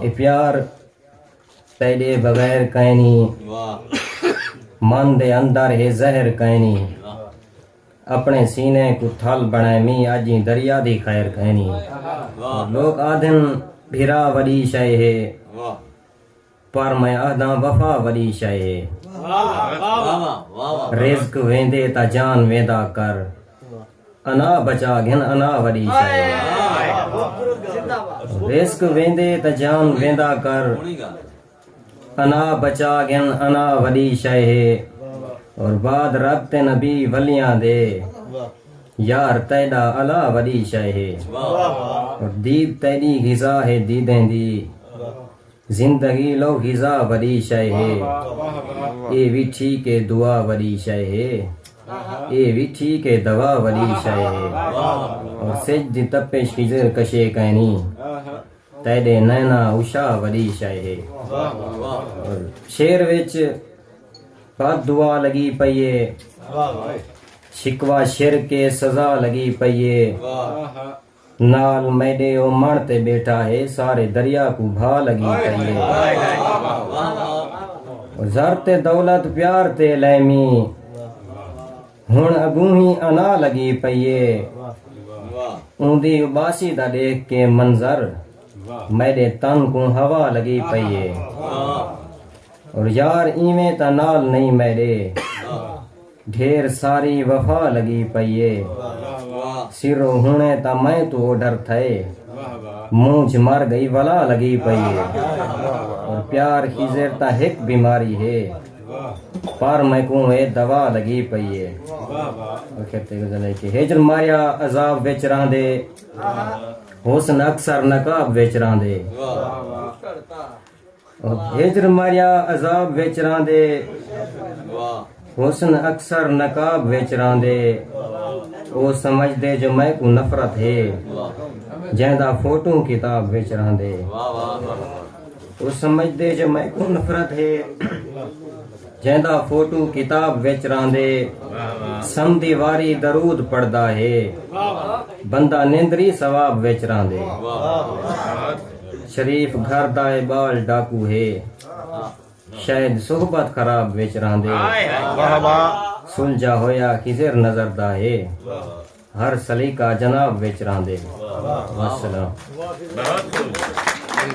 اے پیار تیڈے بغیر کائنی من دے اندر ہے زہر کائنی اپنے سینے کو تھل بنائے می اجی دریا دی خیر کائنی لوگ آدھن بھرا وڈی شے ہے پر میں آدھا وفا وڈی شے ہے رزق ویندے تا جان ویندا کر انا بچا گھن انا وڈی شئے رزق ویندے تاں جان ویندا کر انا بچا گھن انا وڈی شئے ہے اور بعد رب تے نبی ولیاں دے یار تیڈا الا وڈی شئے ہے اور دید تیڈی غذا ہے دیدیں دی زندگی لو غذا وڈی شئے ہے اے وی ٹھیک اے دعا وڈی شئے ہے اے وی ٹھیک اے دوا وڈی شئے ہے اور سج دی تپش خضر کشے کائنی تیڈے نینا اشا وڈی شئے ہے اور شعر وچ بد دعا لگی پئی اے شکوہ شرک اے سزا لگی پئی اے نال میڈے او مݨ تے بیٹھا ہے سارے دریا کوں بھا لگی پئی ہے زر تے دولت پیار تے لیمی ہن اگوں ہی انا لگی پئی ہے اوندی اباسی دا ڈیکھ کے منظر میڈے تن کوں ہوا لگی پئی ہے اور یار ایویں تاں نال نہیں میڈے ڈھیر ساری وفا لگی پئی اے سرو ہنے تاں میں توں اوڈھر تھئے مونجھ مر گئی ولا لگی پئی اے اور پیار خیزر تاں ہک بیماری ہے پر میں کوں اے دوا لگی پئی اے اخر تے غزل ہے کہ ہجر ماریا عذاب وچ رہندے حسن اکثر نقاب وچ رہندے ہجر مریا عذاب وچ راندے حسن اکثر نقاب وچ راندے او سمجھ دے جو میں کو نفرت ہے جہدا فوٹو کتاب وچ راندے او سمجھ دے جو میں کو نفرت ہے جہدا فوٹو کتاب وچ راندے سم دیواری درود پڑھدا ہے بندہ نندری ثواب وچ راندے شریف گھر دا اے ٻال ڈاکو ہے شاید صحبت خراب وچ رہندے سلجھا ہویا خضر نظر دا ہے ہر سلیقہ جناب وچ رہندے وسلام